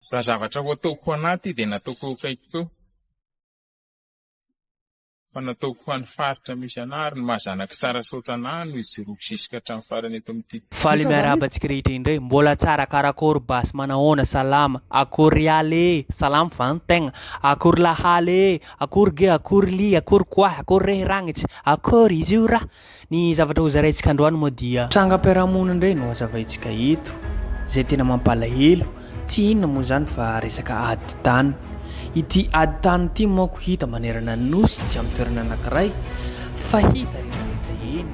Raha zavatra ho ataoko ho anà ity dia nataoko eo akaikiko eo, fa nataoko ho an'ny faritra misy anà, ary ny maha zanak'i Tsarasaotra anà no hijoroako zisika hatramin'ny farany eto amin'ity. Faly miarahaba antsika rehetra indray. Mbola tsara karakôry basy manahoana salama akôry aly ee salama va ny tegna akôry lahaly ee akôry ge akôry lia akôry koahy akôry rehy ragnitry akôry izy io ra Ny zavatra hozaraintsika androany moa dia. Trangam-piarahamonina indray no hazavaintsika eto, izay tena mampalahelo, tsy inona moa izany fa resaka ady tany. Ity ady tany ity manko hita manerana ny Nosy tsy amin'ny toerana anankiray fa hita eny rehetra eny.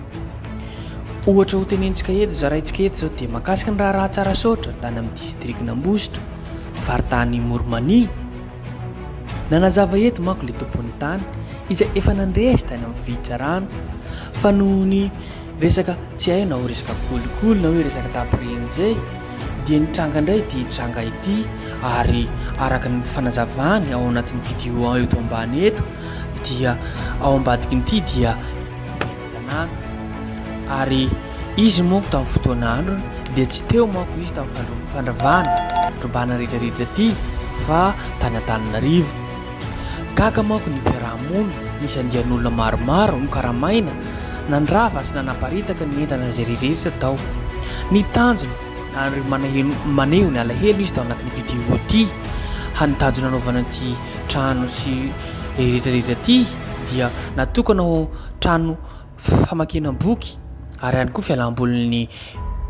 Ohatra ho tenentsika eto, zaraintsika eto izao dia mahakasika ny raharaha Tsarasaotra tany amin'ny distrikan'Ambositra, faritany Moromania, Nanazava eto manko ilay tompon'ny tany izay efa nandresy tany amin'ny fitsarana fa noho ny resaka tsy hay na ho resaka kolikoly na hoe resaka tapiriny izay dia nitranga indray ity tranga ity ary araka ny fanazavany ao anatin'ny vidéo eto ambany eto dia ao ambadikin'ity dia tanàna ary izy monko tamin'ny fotoana androny dia tsy teo manko izy tamin'ny fandravana ribana rehetra rehetra ity fa tany Antananarivo gaga manko ny mpiaraha-mony nisy andian'olona maromaro nokaramaina nandrava sy nanaparitaka ny entana izay rehetra tao ny tanjona ary manahelo maneho ny alahelo izy tao anatin'ny vidéo ity hanitajona anaovana ity trano sy rehetra rehetra ity dia natokana ho trano famakiana boky ary ihany koa fialambolin'ny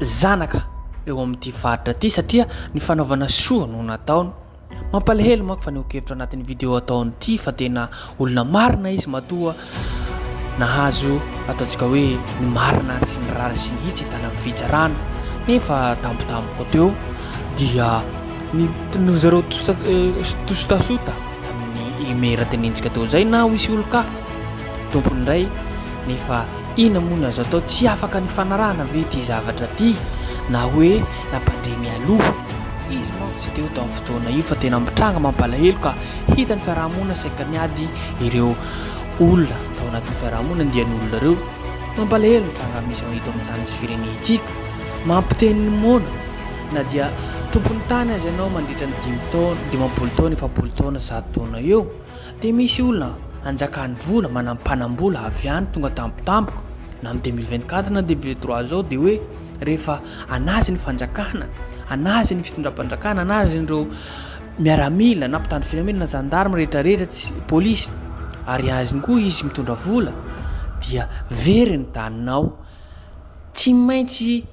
zanaka eo amin'ity faritra ity satria ny fanaovana soa no nataony mampalahelo manko fanehoan-kevitra anatin'ny video ataony ity fa tena olona marina izy matoa nahazo ataontsika hoe ny marina ary sy ny rara sy ny hitsy hitana amin'ny fitsarana nefa tampotampoka teo dia ny no zareo tosotasota tamin'ny imera tenentsika teo izay na ho isy olon-kafa Tompony indray nefa inona moa no azo atao tsy afaka nifanarahana ve ity zavatra ity na hoe nampandre mialoha izy manko tsy teo tamin'ny fotoana io fa tena mitranga mampalahelo ka hita ny fiarahamonina saika niady ireo olona tao anatin'ny fiarahamonina dia ny olona ireo mampalahelo ny tranga misy ao eto amin'ny tany sy firenentsika mampiteny ny moana na dia tompon'ny tany azy ianao mandritra ny dimy taona dimampolo taona efapolo taona zato taona eo Dia misy olona anjakan'ny vola manam-panam-bola avy any tonga tampotampoka na amin'ny deux mille vingt quatre na deux mille vingt trois zao dia hoe rehefa an'azy ny fanjakana, an'azy ny fitondram-panjakana, an'azy ireo miaramila na mpitandro filaminana na zandarme rehetra rehetra tsy polisy ary azy koa izy mitondra vola dia very ny daninao. Tsy maintsy.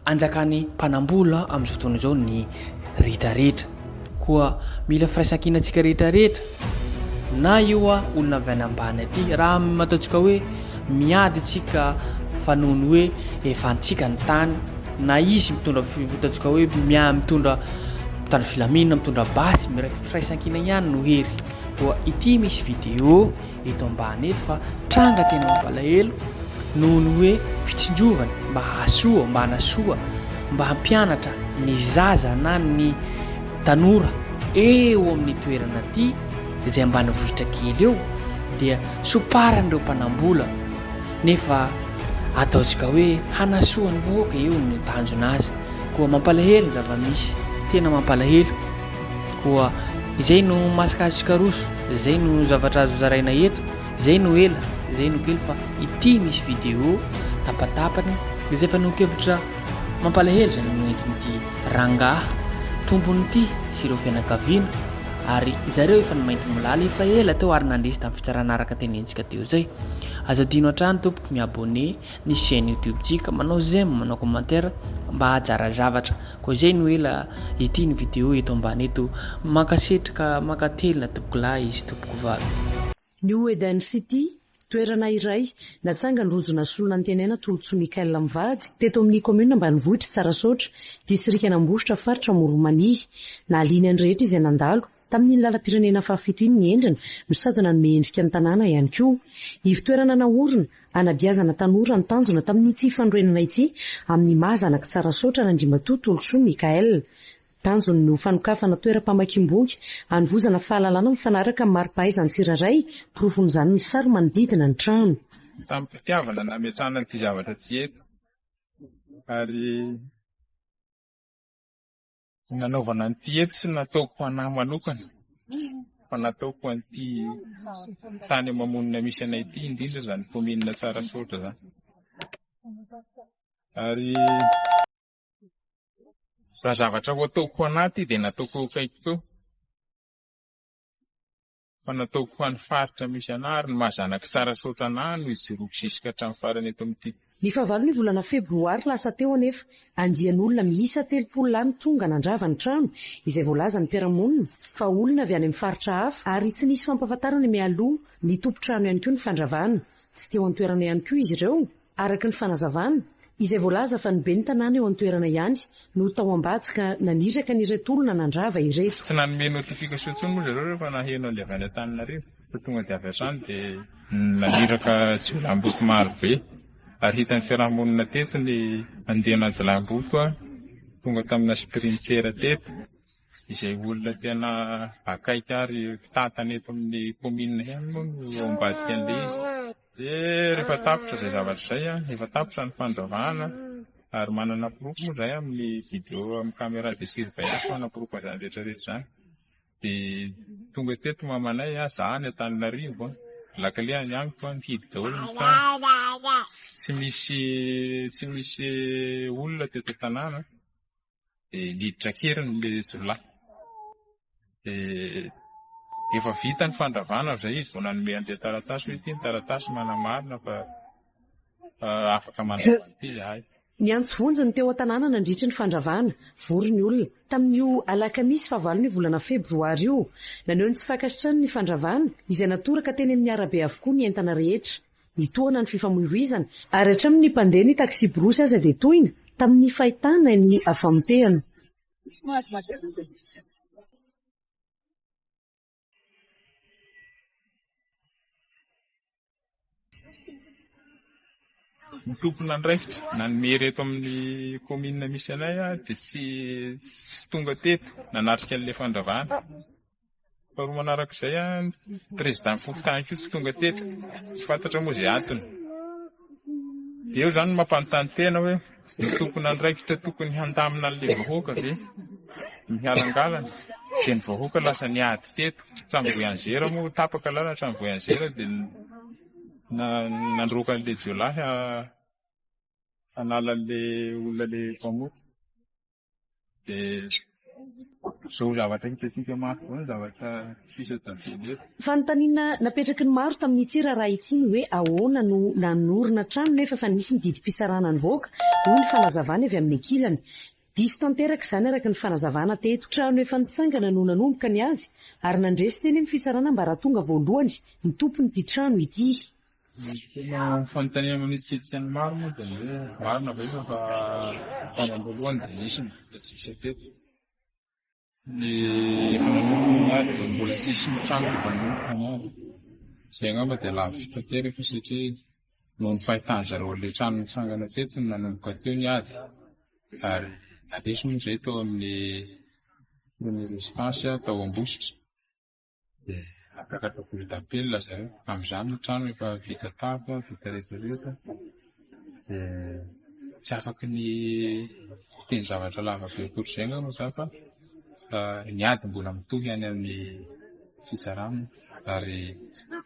Anjakan'ny mpanam-bola amin'izao fotoana izao ny rehetrarehetra. Koa mila firaisankina antsika rehetrarehetra, na io olona avy any ambany aty. Raha ataontsika hoe miady antsika fa noho ny hoe efa antsika ny tany, na izy mitondra ataontsika hoe miahy mitondra mitandro filaminana, mitondra basy, miray firaisankina ihany no hery. Koa ity misy vidéo. eto ambany eto fa tranga tena mampalahelo noho ny hoe fitsinjovana mba hahasoa, mba hanasoa, mba hampianatra ny zaza na ny tanora eo amin'ny toerana aty izay ambanivohitra kely eo dia somparan'ireo mpanambola nefa ataontsika hoe hanasoa ny vahoaka eo no tanjona azy koa mampalahelo ny zava-misy, tena mampalahelo. Koa izay no masikasika roso, izay no zavatra azo zaraina eto, izay no ela, izay no kely fa ity misy vidéo tapatapany izay fanehoan-kevitra mampalahelo izay noentin'ity rangahy tompon'ity sy ireo fianakaviana ary zareo efa nimainty molala efa ela teo ary nandresy tamin'ny fitsarana araka tenentsika teo izay. Azo adino hatrany tompoko mi-abonné ny chaine youtube tsika manao j'aime manao commentaire mba hajara zavatra koa zay no ela ity ny video eto ambany eto mankasitrka mankatelina tompoko lahy sy tompoko vavy New Eden City, toerana iray, natsangan'ny rojo nasolo nantenaina Tolotsoa Michael mivady, teto amin'ny kaominina ambanivohitr'i Tsarasaotra, distrikan'Ambositra, faritra Amoron'i Mania. Nahaliana ny rehetra izay nandalo. Tamin'iny lalam-pirenena fahafito iny ny endriny no sazy nanome endrika ny tanàna ihany koa. Ivo-toerana naorina, hanabeazana tanora ny tanjona tamin'ity fanorenana ity amin'ny maha zanak'i Tsarasaotra an'Andriamatoa Tolosoa Michaël. Tanjony ny ho fanokafana toeram-pamakiam-boky, hanovozana fahalalana mifanaraka amin'ny mari-pahaizan'ny tsirairay, porofon'izany ny sary manodidina ny trano. Tamim-pitiavana no nametrahana ity zavatra ity eto ary. nanaovana an'ity eto tsy nataoko ho an'ahy manokana fa nataoko ho an'ity tany mamonina misy anay ity indrindra izany kaominina Tsarasaotra izany. Ary raha zavatra ho ataoko ho an'ahy ity dia nataoko eo akaikiko eo. fa nataoko ho an'ny faritra misy anah ary ny maha zanak'i Tsarasaotra anah no hijoroako zisika hatramin'ny farany eto amin'ity. Ny fahavalon'ny volana febroary lasa teo anefa, andian'olona miisa telopolo lahy no tonga nandrava ny trano, izay voalazan'ny mpiara-monina fa olona avy any amin'ny faritra hafa ary tsy nisy fampahafantarana mialoha ny tompon-trano ihany koa ny fandravana. Tsy teo an-toerana ihany koa izy ireo. Araka ny fanazavana, izay voalaza fa ny ben'ny tanàna eo an-toerana ihany no tao am-bady ka naniraka an'ireto olona nandrava ireto. Tsy nanome notification intsony moa zareo rehefa naheno an'ilay avy any Antananarivo fa tonga dia avy hatrany dia naniraka jiolahimboto maro be ary hitan'ny fiarahamonina teto ny andiana jiolahimboto tonga tamina sprinter teto izay olona tena akaiky ary mpitantana eto amin'ny commune ihany moa no ao ambadika an'ilay izy. Dia rehefa tapitra izay zavatra izay, efa tapitra ny fandravahana ary manana porofo moa izahay amin'ny video amin'ny caméra de surveillance manaporofo an'izany rehetra rehetra izany. Dia tonga teto mamanay aho, izaho any Antananarivo, lakile any amiko, nihidy daholo ny trano. Tsy misy tsy misy olona teto an-tanàna. dia niditra an-keriny ilay jiolahy. Dia efa vita ny fandravana amin'izay izy vao nanome an'ilay taratasy hoe ity ny taratasy manamarina fa ah, afaka mandrava an'ity izahay. Niantso vonjy ny teo an-tanàna nandritry ny fandravana. Vory ny olona. Tamin'io alakamisy fahavalon'io volana febroary io, naneho ny tsy fankasitrany ny fandravana, izay natoraka teny amin'ny arabe avokoa ny entana rehetra. Mitohana ny fifamoivoizana. Ary hatramin' ny mpandeha ny taksiborosy aza dia tohina, tamin' ny fahitana ny famotehana. Ny tompon' andraikitra nanome hery eto amin' ny kaominina misy anay dia tsy tonga teto nanatrika an' ilay fandravana. Faharoa manaraka izay, ny prezidan'ny fokontany koa tsy tonga teto, tsy fantatra moa izay antony. Dia eo izany no mampanontany tena hoe ny tompon'andraikitra tokony handamina an'ilay vahoaka ve ny halangalana? Dia ny vahoaka lasa niady teto hatramin'ny voyanzera moa, tapaka lalana hatramin'ny voyanzera dia nandroaka an'ilay jiolahy hanala an'ilay olona ilay mpamoty. dia izao zavatra hitantsika mafy izao ny zavatra sisa tavela eto. Fanontaniana napetraky ny maro tamin'ity raharaha ity ny hoe ahoana no nanorina trano nefa efa nisy ny didim-pitsarana nivoaka, hoy ny fanazavana avy amin'ny ankilany. Diso tanteraka izany araka ny fanazavana teto. Trano efa nitsangana no nanomboka ny ady ary nandresy teny amin'ny fitsarana ambaratonga voalohany ny tompon'ity trano ity. Ny tena fanontaniana manisy kristiana maro moa dia ny hoe, marina ve fa fa tany am-boalohany dia nisy ny vola tsisy teto? Ny efa nanompo ny maty dia mbola tsisy trano efa nanompo ny maty. Izay angamba dia lafo vidy tanteraka satria noho ny fahitan-dry zareo an'ilay trano nitsangana teto no nanomboka teo ny ady ary nandresy moa izay tao amin'ny premier residence tao Ambositra. dia apetraka boule d'apel zareo. Amin'izany ny trano efa vita tafo, vita rehetra rehetra, dia tsy afaka ny hiteny zavatra lava be ohatr'izay angamba za fa ny ady mbola mitohy any amin'ny fitsarana ary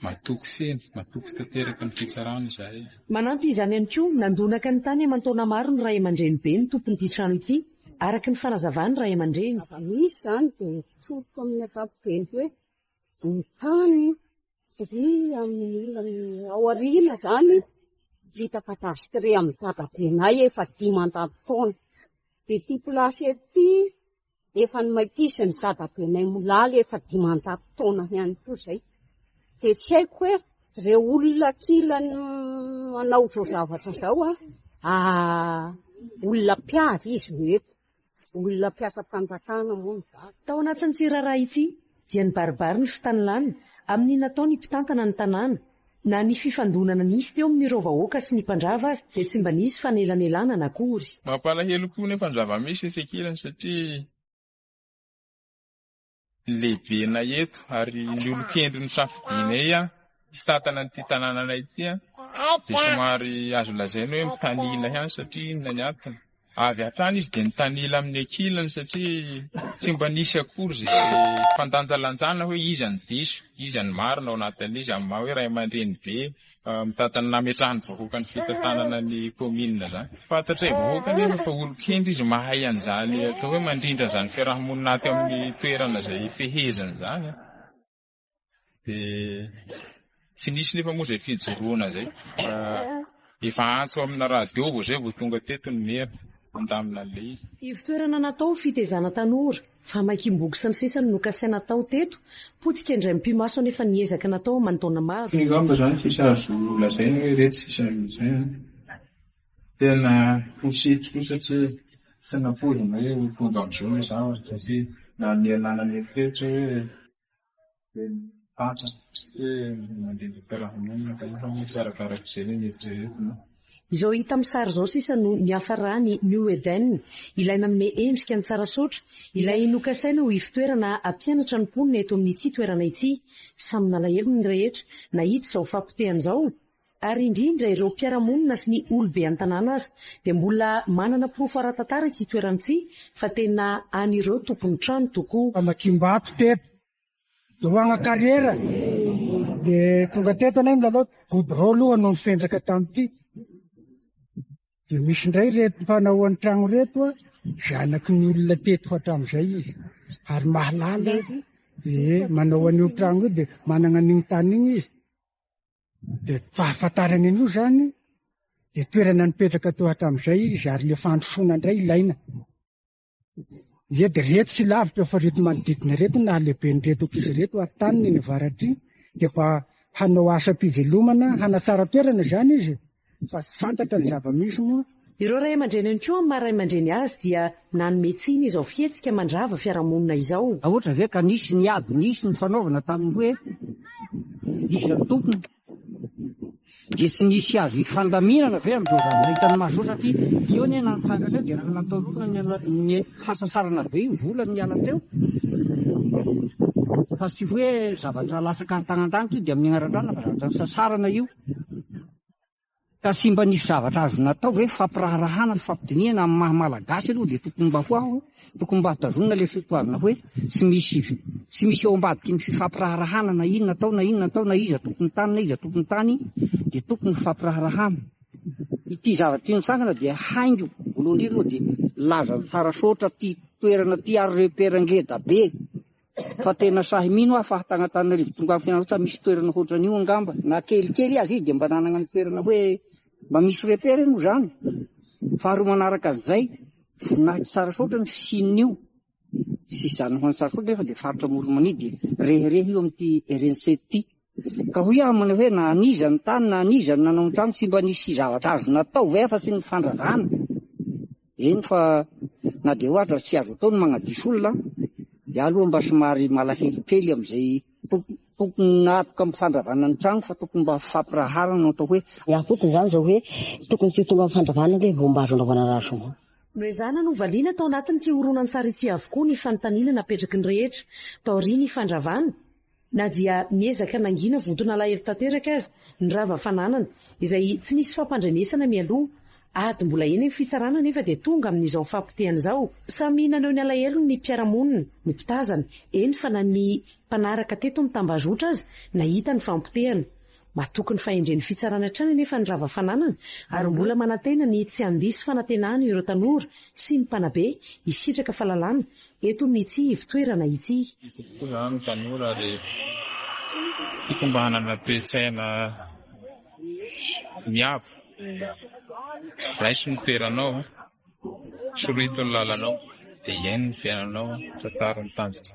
matoky feno, matoky tanteraka ny fitsarana izahay. Manampy izany ihany koa, nandonaka ny tany aman-taona maro ny ray aman-drenibe ny tompon'ity trano ity, araka ny fanazavan'ny ray aman-dreny. Misy izany dia Tsoriko amin'ny ankapobeny hoe ny tany tri amin'ny olona ao aoriana izany vita kadastre amin'ny dadabenay efa dimanjato taona. Dia ity place eto ity efa nomaikisin'ny dadabenay molaly efa dimanjato taona ihany koa izay. Dia tsy haiko hoe ireo olona ankilany manao izao zavatra izao an, olona mpiavy izy no eto. Olona mpiasam-panjakana moa ny vaky. Tao anatin'ity raharaha ity dia nibaribary ny fitanilana amin'ny natao ny mpitantana ny tanàna. Na ny fifandonana nisy teo amin'ireo vahoaka sy ny mpandrava aza dia tsy mba nisy fanelanelanana akory. Mampalahelo koa nefa ny zava-misy etsy ankilany satria. ny lehibenay eto ary ny olon-kendry nosafidianay hitantana an'ity tanànanay ity dia somary azo lazaina hoe mitanila ihany satria inona ny antony? avy hatrany izy dia nitanila amin'ny ankilany satria tsy mba nisy akory izay fandanjalanjana hoe iza no diso, iza no marina ao anatin'izy amin'ny maha hoe ray aman-dreny be. Mitady ny nametrahan'ny vahoaka ny fitantanana ny kaominina izany. Fantatray vahoaka anefa fa olon-kendry izy mahay an'izany atao hoe mandrindra an'izany fiaraha-monina aty amin'ny toerana izay hifehezany izany dia tsy nisy nefa moa izay fijoroana izay fa efa antso amina radio vao izay vao tonga teto ny mera handamina an'ilay izy. Ivo-toerana natao ho fitezana tanora. Famakiam-boky sy ny sisa no nokasaina hatao teto. Potika indray mipi-maso anefa ny ezaka natao aman-taona maro. Angamba izany sisa azo lazaina hoe iretsy sisa izay an! Tena positif koa satria tsy nampoizina hoe ho tonga amin'izao ilay zavatra satria na ny ialana any an-tsehatra hoe. Izao hita amin'ny sary izao sisa no niafaran'ny New Eden, ilay nanome endrika ny tsara saotra, ilay nokasaina ho ivotoerana hampianatra ny mponina eto amin'ity toerana ity. Samy nalahelo ny rehetra nahita izao fahapotehana izao, ary indrindra ireo mpiara-monina sy ny olobe an-tanàna aza. Dia mbola manana porofo ara-tantara ity toerana ity fa tena an'ireo tompon-trano tokoa. Famakiam-bato teto Doanga carrière dia tonga teto anay milalao goudron aloha no nifendraka tamin'ity dia misy indray reto mpanao an-tragno reto a zanaky ny olona teto hatramin'izay izy ary mahalala ee manao an'io tragno io dia manana an'iny tany iny izy dia fahafantarana an'io zany dia toerana nipetraka teo hatramin'izay izy ary le fandrosoana indray ilaina Ireto ireto sy lavitra fa ireto manodidina ireto no nahalehiben'ireto ankizy ireto ary taniny eny avaratr'i dia mba hanao asam-pivelomana hanatsara toerana izany izy fa tsy fantatra ny zava-misy moa. Ireo ray aman-dreny ihany koa amin'ny maha ray aman-dreny azy dia nanome tsiny izao fihetsika mandrava fiarahamonina izao. Ahoana ve ka nisy ny ady nisy ny fanaovana tamin'ny hoe iza no tompony? Dia tsy nisy azo hifandaminana ve amin'izao zavatra hitan'ny maso izao satria eo anie na nitsangana eo dia raha natolorana ny hasasarana be io vola niala teo fa tsy hoe zavatra latsaka an-tanan-danitra io dia amin'ny agnara-drano fa zavatra nisasarana io. Ka tsy mba nisy zavatra azo natao ve fampiraharahana sy fampidinihana amin'ny maha malagasy aloha dia tokony mba ho aho an, tokony mba tazonina ilay fitoavina hoe tsy misy tsy misy eo ambadiky ny fifampiraharahana na inona atao na inona atao na iza tompony tany na iza tompony tany dia tokony ho fampiraharahana. Ity zavatra ity nitsangana dia haingo voalohany indrindra aloha dia lazany tsara soatra ity toerana ity ary repère ngeda be Fa tena sahy mino aho fa tagny Antananarivo tonga Fianarantsoa misy toerana hoatran'io angamba na kelikely aza io dia mba nanagna ny toerana hoe mba misy repere moa zany. Faharoa manaraka an'izay, voninahitry Tsarasaotra ny fisian'io sy izany ho an'i Tsarasaotra nefa dia faritra Amoron'i Mania dia rehereha io amin'ity rnce ity. Ka hoy aminy hoe, Na an'iza ny tany na an'iza no nanao ny trano, tsy mba nisy zavatra azo natao ve afa-tsy ny fandrarana? Eny fa na dia ohatra tsy azo atao ny magnadiso olona an! Iah aloha mba somary malahelo kely amin'izay tompon'atoka amin'ny fandravana ny trano fa tokony mba fampiraharana no atao hoe, Iah fotsiny izany izao hoe, tokony tsy ho tonga amin'ny fandravana ve vao mba azo anaovana raha soa? Noho izany, novaliana tao anatin'ity horonantsary ity avokoa ny fanontaniana napetraky ny rehetra taorian'ny fandravana. Na dia niezaka nangina vonton'alahelo tanteraka aza ny rava fananana, izay tsy nisy fampandrenesana mialoha, ady mbola eny ny fitsarana anefa dia tonga amin'izao fahapotehana izao. Samy naneho ny alahelony ny mpiara-monina, ny mpitazana, eny fa na ny mpanaraka teto amin'ny tambazotra aza nahita ny fahapotehana. Matoky ny fahendren'ny fitsarana hatrany anefa ny rava fananana ary mbola manantena ny tsy handiso fanantenana ireo tanora sy ny mpanabe hisitraka fahalalana eto amin'ity ivotoerana ity. Misy tokoa izany ny tanora ary tokony mba hanana toe-tsaina miabo. Raiso ny toeranao, sorito ny lalanao dia hiaino ny fiainanao fa tsara ny tanjona.